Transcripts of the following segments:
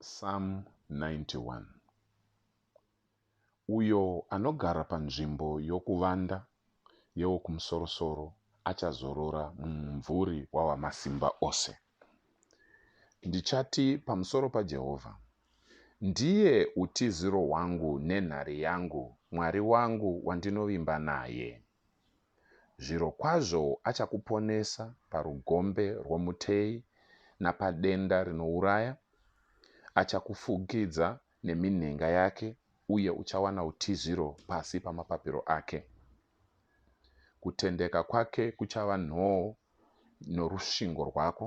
Psalm 91 Uyo anogara panzvimbo yokuvanda yeWokumusorosoro achazorora mumumvuri waWamasimba Ose. Ndichati pamusoro paJehovha, Ndiye utiziro hwangu nenhare yangu, Mwari wangu wandinovimba naye. Zvirokwazvo achakuponesa parugombe rwomuteyi napadenda rinouraya, achakufukidza neminhenga yake, uye uchawana utiziro pasi pamapapiro ake. Kutendeka kwake kuchava nhoo norusvingo rwako,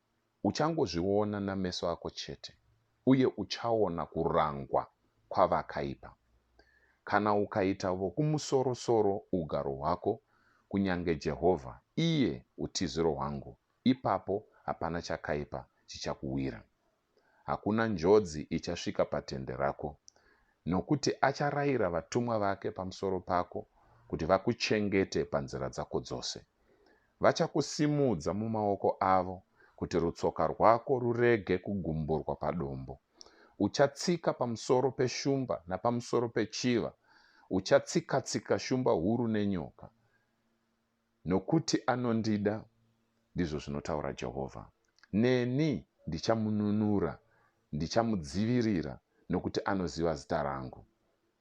Uchangozviona nameso ako chete uye uchaona kurangwa kwavakaipa. Kana ukaita Vokumusorosoro ugaro hwako, kunyange Jehovha, iye utiziro hwangu, ipapo hapana chakaipa chichakuwira. Hakuna njodzi ichasvika patende rako, nokuti acharayira vatumwa vake pamusoro pako kuti vakuchengete panzira dzako dzose. Vachakusimudza mumaoko avo kuti rutsoka rwako rurege kugumburwa padombo. Uchatsika pamusoro peshumba napamusoro pechiva, uchatsika-tsika shumba huru nenyoka. Nokuti anondida, ndizvo zvinotaura Jehovha, neni ndichamununura, ndichamudzivirira, nokuti anoziva zita rangu.